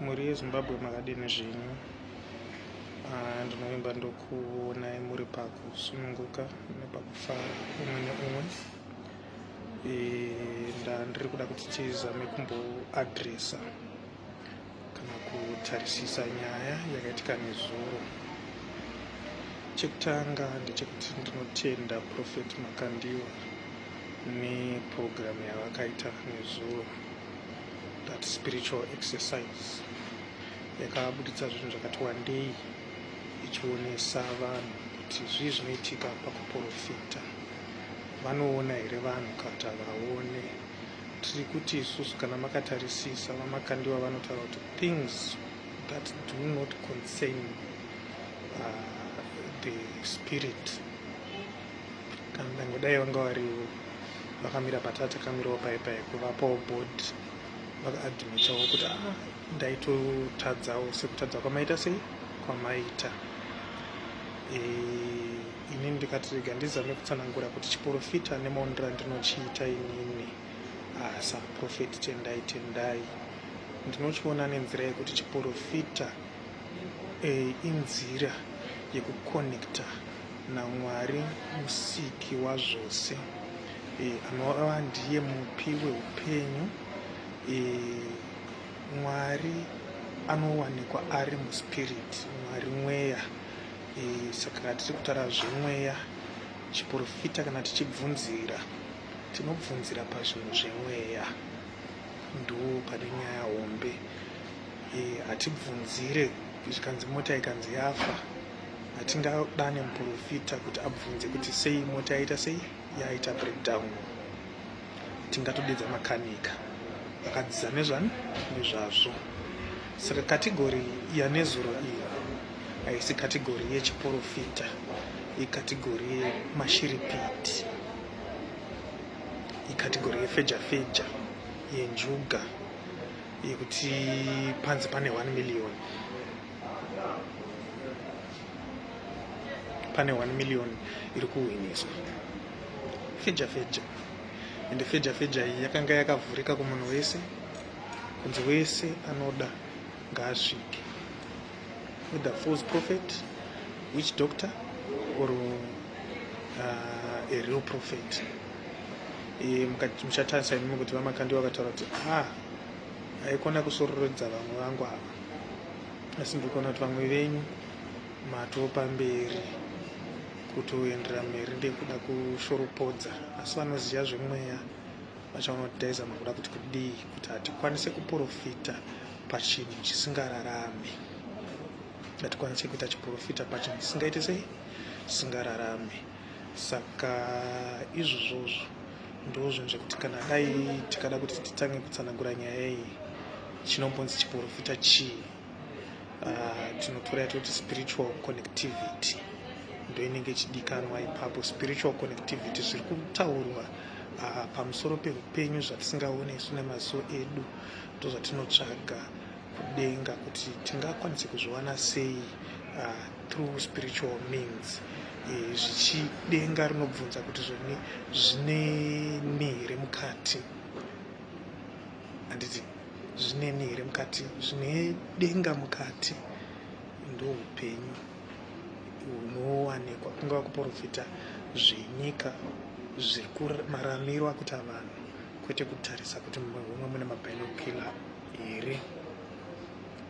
mhuri yezimbabwe makadini zvenyu ah, ndinovimba ndokuonai muri pakusununguka nepakufara umwe neumwe eh, ndandiri kuda kuti tizame kumboadresa kana kutarisisa nyaya yakaitika nezuro chekutanga ndechekuti ndinotenda profet makandiwa nepurogiramu yavakaita nezuro that spiritual exercise yakabuditsa zvinhu zvakati wandei ichionesa vanhu kuti zvii zvinoitika pakuprofita vanoona here vanhu kata vaone tiri kuti isusu kana makatarisisa vamakandiwa vanotaura kuti things that do not concern uh, the spirit kana ndangodai vanga varivo vakamira patata kamirawo paye paye kuvapawo board vakaadmitawo kuti a ah, ndaitotadzawo sekutadza kwamaita sei kwamaita e, ini ndikati rega ndizame kutsanangura kuti chiporofita nemaonera ndinochiita inini asa ah, profeti tendai tendai ndinochiona nenzira yekuti chiporofita e, inzira yekukonekta naMwari musiki wazvose e, anova ndiye mupi weupenyu e, Mwari anowanikwa ari muspirit Mwari mweya e, saka kana tiri kutaura zvemweya chiporofita kana tichibvunzira tinobvunzira pazvinhu zvemweya ndo pane nyaya hombe e, hatibvunzire zvikanzi mota ikanzi yafa hatingadane muprofita kuti abvunze kuti sei mota yaita sei yaita breakdown tingatodedza makanika akadziza nezvani nezvazvo saka kategori yanezuro iyi haisi kategori yechiprofita ikategori yemashiripiti ikategori yefeja feja yenjuga yekuti panzi pane 1 million pane 1 million iri kuhwiniswa feja feja ende feja feja iyi yakanga yakavhurika kumunhu wese kunzi wese anoda ngaasvike with the false prophet which doctor or uh, a real prophet e, muchatarisa imi kuti vamakandi vakataura kuti ah haikona kusororodza vamwe vangu ava asi ndikuona kuti vamwe venyu matopa mberi kutoendera mberi ndekuda kushoropodza asi vanoziva zvemweya vachaona kuti taizama kuda kuti kudii kuti hatikwanise kuprofita pachinhu chisingararame hatikwanise kuita chiprofita pachinhu chisingaite sei chisingararame saka izvozvozvo ndozvinhu zvekuti kana dai tikada kuti titange kutsanangura nyaya iyi chinombonzi chiporofita chii ah, tinotora yatoti spiritual connectivity ndoinenge ichidikanwa ipapo spiritual connectivity zviri kutaurwa ah, pamusoro peupenyu zvatisingaone isu nemaziso edu ndozvatinotsvaga denga kuti tingakwanise kuzviwana sei uh, through spiritual means eh, zvichidenga rinobvunza kuti zvone zvine ni here mukati handiti zvine ni here mukati zvine denga mukati ndo upenyu hunowanikwa kungava kuprofita zvenyika zviri maramiro akuta vanhu kwete kutarisa kuti mumwe mune mabinokila here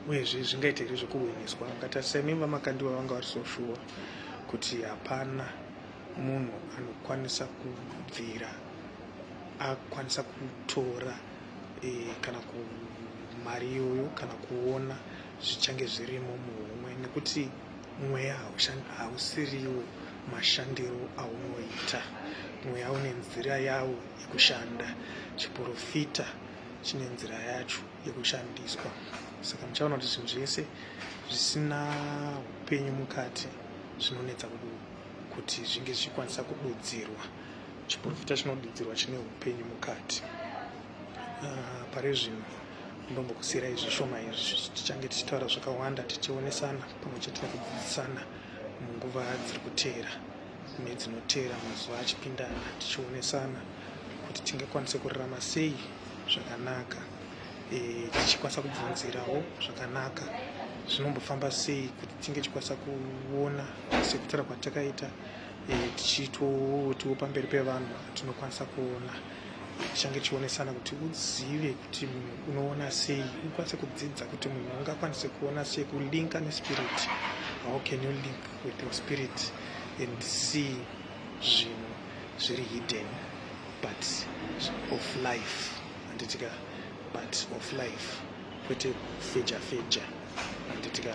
uyezve zvingaite here zvekuhwiniswa vakati semimba makandiwa vanga vari so shuwa kuti hapana munhu anokwanisa kubvira akwanisa kutora e, kana ku mari iyoyo kana kuona zvichange zvirimo muhomwe nekuti mweya hausiriwo mashandiro aunoita mweya une nzira yawo yekushanda chiporofita chine nzira yacho yekushandiswa saka muchaona kuti zvinhu zvese zvisina upenyu mukati zvinonetsa kuti zvinge zvichikwanisa kududzirwa chiporofita chinodudzirwa chine upenyu mukati ah, pari zvino ndombokusiyirai zvishoma izvi tichange tichitaura zvakawanda tichionesana pamwe chete nekudzidzisana munguva dziri kuteera mune dzinoteera mazuva achipindana tichionesana kuti tingakwanise kurarama sei zvakanaka e, tichikwanisa kubvunzirawo zvakanaka zvinombofamba sei kuti tinge tichikwanisa kuona sekutara kwatakaita e, tichitotiwo pamberi pevanhu tinokwanisa kuona tichange tichionesana kuti uzive kuti munhu unoona sei ukwanise kudzidza kuti munhu ungakwanise kuona sei kulinka nespirit how can you link with your spirit and see zvinhu zviri hidden but of life anditika but of life kwete kufeja feja anditika